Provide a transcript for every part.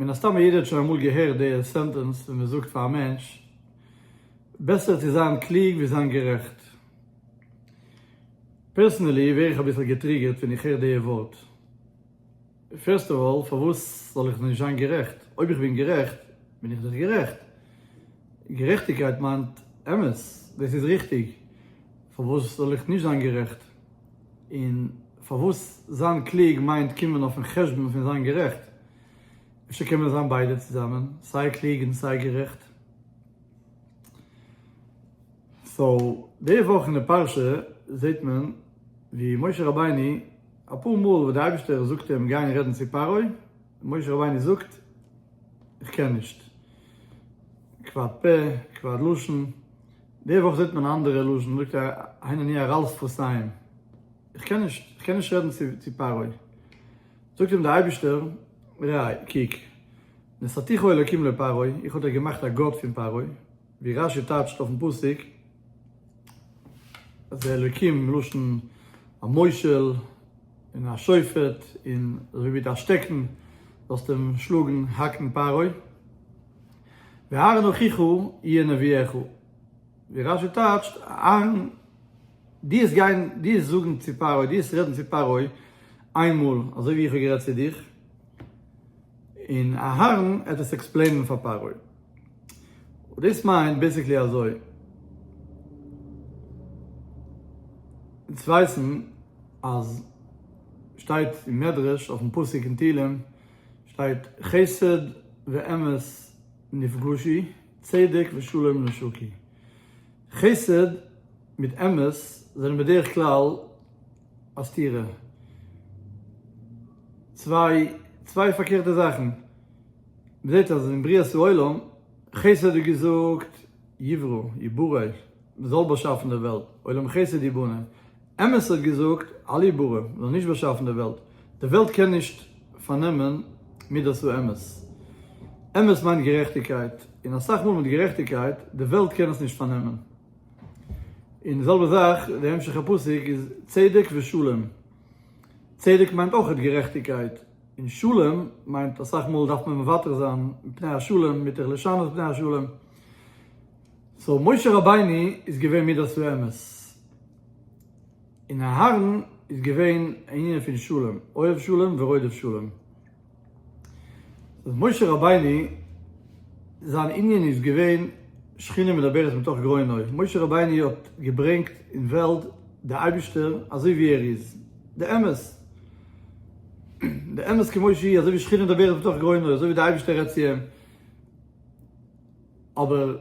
מן הסתם יעדער האט שוין אמאל געהערט די סענטענס ווי מען זאגט פאר א מענטש, בעסער צו זיין קלוג ווי זיין גערעכט. פערסענעלי ווער איך אביסל געטריגערט ווען איך הער די ווארט. פירסט אוו אלל, פארוואס זאל איך נישט זיין גערעכט? אויב איך בין גערעכט, בין איך דאך גערעכט. גערעכטיגקייט מיינט אמת, דאס איז ריכטיג, פארוואס זאל איך נישט זיין גערעכט? און פארוואס זיין קלוג מיינט קומען אויפן חשבון פון זיין גערעכט? אפשר קען מען זיין ביידע צוזאמען, סיי קלוג און סיי גערעכט? סאו, די וואך אין די פרשה זעט מען ווי משה רבינו אפאר מאל וואס די אייבערשטער זאגט אים גיין רעדן צו פרעה, און משה רבינו זאגט איך קען נישט, כבד פה כבד לשון, די וואך זעט מען א אנדערע לשון, זאגט א הנני אראלס פרסיים, איך קען נישט, איך קען נישט רעדן צו פרעה. זאגט אים די אייבישטער, ראה, קוק, נשאתיך אלקים לפרעה, איך האב דיך געמאכט א גאט פון פרעה, ווי רש י טייטשט אויפן פסוק, אז די אלקים מלשון המושל און השופט, און אזוי ווי מיט א שטעקן זאלסטו אים שלאגן, האקן פרעה. והארון אחיך יהיה נביאך, ווי רשי טייטשט, אהרן, דו וועסט גיין, דו וועסט זאגן צו פרעה, דו וועסט רעדן צו פרעה איין מאל אזוי ווי איך האב גערעדט צו דיך, און אהרן וועט עס עקספלעינען פאר פרעה. דאס מיינט בעיסיקלי אזוי, אונז ווייסן אז שטייט אין מדרש אויפן פסוק אין תהלים, שטייט חסד ואמת נפגשי, צדק ושלום נשקי. חסד מיט אמת זענען בדרך כלל א סתירה, צוויי צוויי פארקערטע זאכן. מ'זעט אז אין בריאת העולם, חסד איז געזאגט יברא, יברא. מ'זאל באשאפן די וועלט, עולם חסד יבנה, אמת האט געזאגט, אל יברא, מ'זאל נישט באשאפן די וועלט, די וועלט קען נישט פארנעמען מידת האמת, אמת מיינט גערעכטיגקייט, און אסאך מאל מיט גערעכטיגקייט, די וועלט קען עס נישט פארנעמען. און די זעלבע זאך, די המשך הפסוק איז צדק ושלום, צדק מיינט אויכעט גערעכטיגקייט, און שלום מיינט אסאך מאל דארף מען מוותר זיין מפני השלום, מיטב לשנות פני השלום, סאו משה רבינו איז געווען מידת האמת, און אהרן איז געווען ענינים פון שלום, אוהב שלום ורודף שלום. סאו משה רבינו זיין ענין איז געווען שכינה מדברת מתוך גרונו, משה רבינו האט געברענגט אין וועלט די אייבישטער אזוי ווי ער איז, די אמת, די אמת כמות שהיא, אזוי ווי שכינה מדברת מתוך גרונו, אזוי ווי די אייבישטער רעדט צו אים. אבער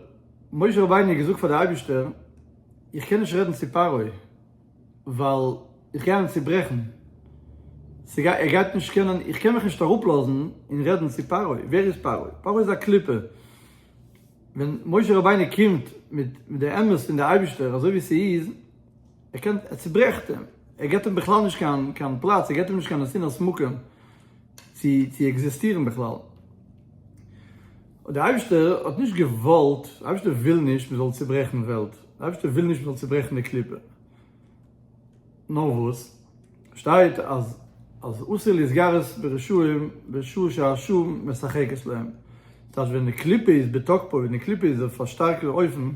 משה רבינו האט געזאגט פאר די אייבישטער איך קען נישט רעדן צו פרעה ווייל איך גיי אים צוברעכן, ס'גייט ער גייט נישט קענען, איך קען מיך נישט אראפלאזן און רעדן צו פרעה, ווער איז פרעה? פרעה איז א קליפה, ווען משה רבינו קומט מיט די אמת פון די אייבישטער אזוי ווי ס'איז, ער קען ער צוברעכט אים, ער געבט אים בכלל נישט קיין קיין פלאץ, ער געבט אים נישט קיין נתינת מקום צו צו עקזיסטירן בכלל. און דער אייבערשטער האט נישט געוואלט, דער אייבערשטער וויל נישט מען זאל צעברעכן וועלט, דער אייבערשטער וויל נישט מען זאל צעברעכן די קליפה, נאר וואס שטייט אז אז אסור להתגרות ברשעים בשעה שהשעה משחקת להם, דאס הייסט ווען די קליפה איז בתוקפו, ווען די קליפה איז אויף א שטארקע אופן,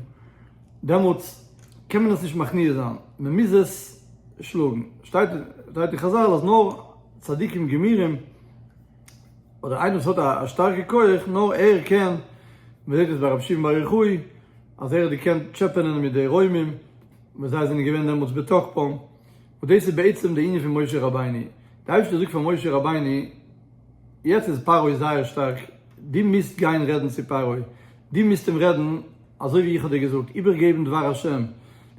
דעמאלטס קען מען עס נישט מכניע זיין, מען מוז עס שלאגן, שטייט אין חזל אז נאר צדיקים גמירים, אדער איינער וואס האט א שטארקע כח נאר ער קען, מען זעט עס ביי רבי שמעון בר יוחאי אז ער האט געקענט טשעפענען מיט די רוימים ווען זיי זענען געווען דעמאלטס בתוקפם, וואס דאס איז בעצם די ענין פון משה רבינו, די אייבערשטער זאגט פאר משה רבינו, יעצט איז פרעה זייער שטארק, דו מוזט גיין רעדן צו פרעה, דו מוזט אים רעדן, אזוי ווי איך האב דיר געזאגט, איבערגעבן דבר השם,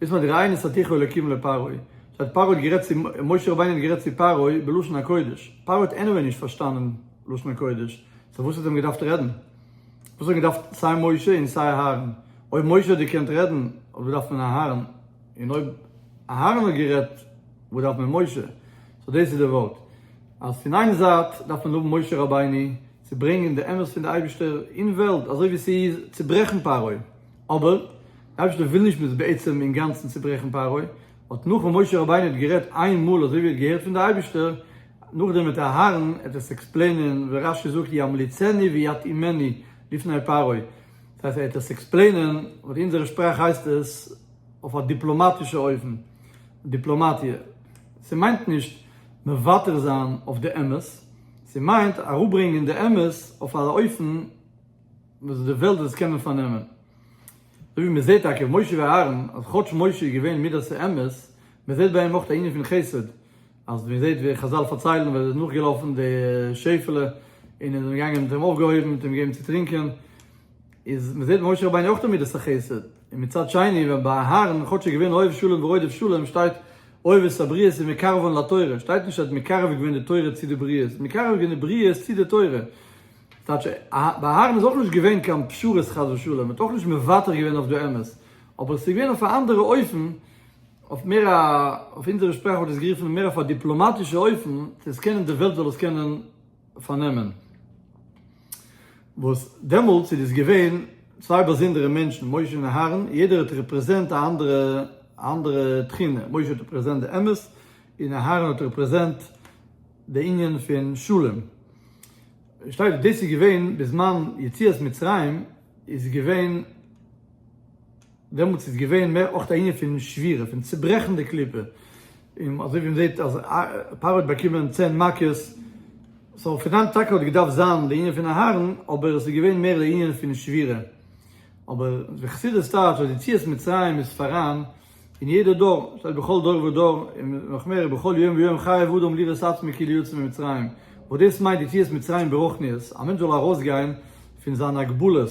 דאס מיינט ראי' נשאתיך אלקים לפרעה, שטייט פרעה האט גערעדט צו, משה רבינו האט גערעדט צו פרעה בלשון הקודש, פרעה האט עניוועי נישט פארשטאנען לשון הקודש, סאו וואס האט אים געדארפט רעדן? וואס האט געדארפט סיי משה און סיי אהרן? אויב משה האט דערקענט רעדן, וואס באדארף מען אהרן? און אויב אהרן האט גערעדט, וואס דארף מען משה? סאו דאס איז די ווארט. אז פון איין זייט דארף מען לאבן משה רבינו צו ברענגען די אמת פון די אייבישטער אין וועלט אזוי ווי ס'איז, צוברעכן פרעה, אבער די אייבישטער וויל נישט מ'זאל בעצם אינגאנצן צוברעכן פרעה, האט נאכן משה רבינו האט גערעדט איין מאל אזוי ווי ער האט געהערט פון די אייבישטער, נאכדעם וועט אהרן עפעס עקספלעינען ווי רש י זאגט ימליצני ויתאימני לפני פרעה, דאס הייסט ער וועט עס עקספלעינען, און אין אונזערע שפראך הייסט עס אויף א דיפלאמאטישע אופן, דיפלאמאטיע, ס'מיינט נישט. מוותר זיין אויף די אמת, ס'מיינט אראפברענגען די אמת אויף א אופן וואס די וועלט וועט עס קענען פארנעמען. אזוי ווי מ'זעט טאקע משה ואהרן אז כאטש משה איז געווען מידת האמת, מ'זעט ביי אים אויך א ענין פון חסד, אז מ'זעט ווי חזל פארציילן ווען ער איז נאכגעלאפן די שעפעלע און ער איז געגאנגען און עס האט אים אויפגעהויבן און עס האט אים געגעבן צו טרינקען, איז מ'זעט משה רבינו אויך טון מידת החסד, און מצד שני ווען ביי אהרן כאטש איז געווען אוהב שלום ורודף שלום שטייט אוהב את הבריות ומקרבן לתורה, שטייט נישט ער האט מקרב געווען די תורה צו די בריות, מקרב געווען די בריות צו די תורה, ס'טייטש ביי אהרן איז אויך נישט געווען קיין פשרות חס ושלום, מ'האט אויך נישט מוותר געווען אויף די אמת, אבער ס'איז געווען אויף א אנדערע אופן, אויף מער א, אויף אונזערע שפראך וואלט עס גערופן מער אויף א דיפלאמאטישע אופן, צו עס קענען די וועלט זאל עס קענען פארנעמען. וואס דעמאלטס איז דאס געווען צוויי באזונדערע מענטשן, משה און אהרן, יעדער האט רעפרעזענט א אנדערע א אנדערע תכונה, משה האט רעפרעזענט די אמת, און אהרן האט רעפרעזענט די ענין פון שלום. שטייט דאס איז געווען בזמן יציאת מצרים איז געווען דעמאלטס איז געווען מער אויך א ענין פון שבירה, פון צוברעכן די קליפה, און אזוי ווי מ'זעט אז פרעה האט באקומען צען מכות, סאו פון היינט טאקע האט געדארפט זיין די ענין פון אהרן, אבער עס איז געווען מער די ענין פון שבירה. אבער די חסידות טייטש אז יציאת מצרים איז פאראן אין יעדע דור, שטייט בכל דור ודור, און נאך מער בכל יום ויום חייב אדם לראות עצמו כאילו יצא ממצרים, וואס דאס מיינט יציאת מצרים ברוחניות, א מענטש זאל ארויסגיין פון זיין הגבלות,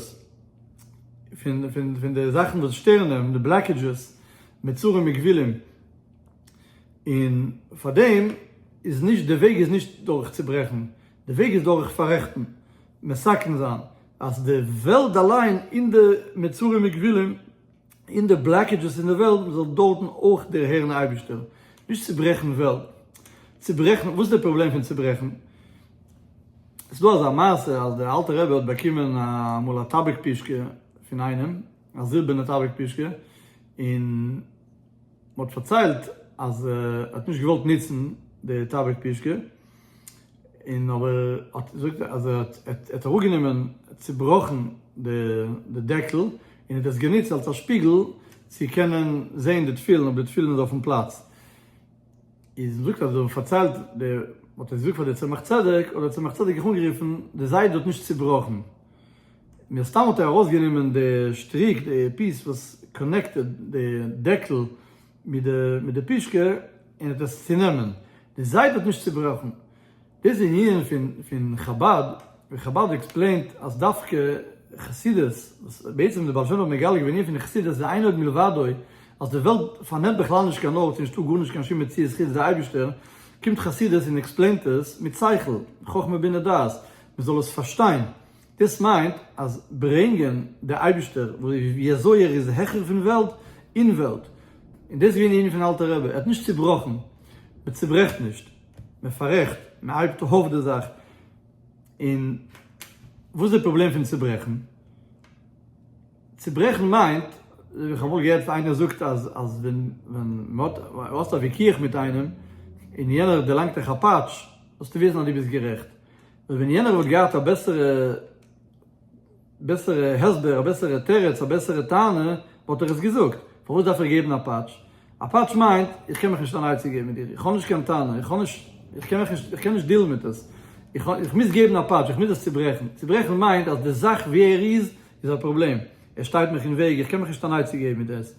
פון פון פון די זאכן וואס שטערן אים, די בלאקעדזשעס, מצרים וגבילין, און פאר דעם איז נישט, די וועג איז נישט דורך צוברעכן, די וועג איז דורך פאררעכטן, מסכם זיין אז די וועלט אליין אין די מצרים וגבילין, און די בלאקעדזשעס אין די וועלט, מען זאל דארטן אויך דערהערן אייבערשטער, נישט צוברעכן וועלט, צוברעכן, וואס איז די פראבלעם פון צוברעכן? עס איז דא אזא מעשה אז דער אלטער רבי האט באקומען אמאל א טאביק פושקע פון איינעם, א זילבערנע טאביק פושקע, און מען האט פארציילט אז ער האט נישט געוואלט נוצן די טאביק פושקע, און אבער האט זאגט ער אז ער האט אראפגענומען צובראכן די דעקל און האט עס גענוצט אלס א שפיגל צו קענען זעהן די תפילין אויב די תפילין איז אויפן פלאץ, איז זאגט אז מ'האט פארציילט דער האט עס געזאגט פאר די צמח צדק האט די צמח צדק זיך אנגערופן די זיידע האט נישט צובראכן מן הסתם האט ער ארויסגענומען די שטריק די פיס וואס קאנעקטעד די דעקל. מיט די פישקע און האט עס צונעמען, די זייט האט נישט צובראכן, דאס איז ענינים פון חבד, ווי חבד עקספלעינט אז דווקא חסידות, וואס בעצם די בעל שם טוב האט מגלה געווען ענינים פון חסידות זה אין עוד מלבדו, אז די וועלט פארנעמט בכלל נישט קיין ארט, ס'נישטא גארנישט קיין שום מציאות חוץ די אייבישטער, קומט חסידות און עקספלעינט עס מיט שכל, חכמה בינה דעת, מ'זאל עס פארשטיין. דאס מיינט אז ברענגען די אייבישטער ווי אזוי ער איז העכער פון וועלט און וועלט, און דאס איז געווען די ענין פון אלטער רבי, ער האט נישט צוברעכן, מען צוברעכט נישט, מען פאררעכט, מען הייבט אויף די זאך, און וואס איז די פראבלעם פון צוברעכן? צוברעכן מיינט, איך האב אמאל געהערט איינער זאגט אז אז ווען ווען מען האט, ווען האסט א וויכוח מיט איינעם און יענער דערלאנגט דיך א פאטש, זאלסטו וויסן אז דו ביסט גערעכט. און ווען יענער וואלט געהאט א בעסערע בעסערע הסבר, א בעסערע תירוץ, א בעסערע טענה, וואלט איך עס געזאגט. פארוואס דארף איך געבן א פאטש? א פאטש מיינט, איך קען מיך נישט אן עצה געבן מיט דיר, איך האב נישט קיין טענה, איך האב נישט, איך קען מיך נישט, איך קען נישט דילן מיט עס. איך, איך מוז געבן א פאטש, איך מוז עס צוברעכן. צוברעכן מיינט אז די זאך ווי ער איז, איז א פראבלעם. ער שטייט מיך אין וועג, איך קען מיך נישט אן עצה געבן מיט עס.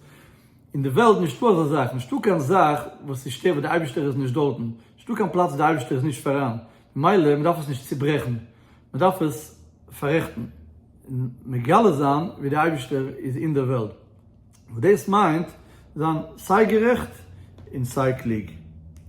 אין די וועלט נישטא אזא זאך, נישטא קיין זאך וואס איז שטער וואס די אייבישטער איז נישט דארטן, נישטא קיין פלאץ וואס די אייבישטער איז נישט פאראן. מילא מ'דארף עס נישט צוברעכן, מ'דארף עס פאררעכטן און מגלה זיין ווי דער אייבערשטער איז אין דער וועלט, וואס דאס מיינט זיין סיי גערעכט און סיי קלוג.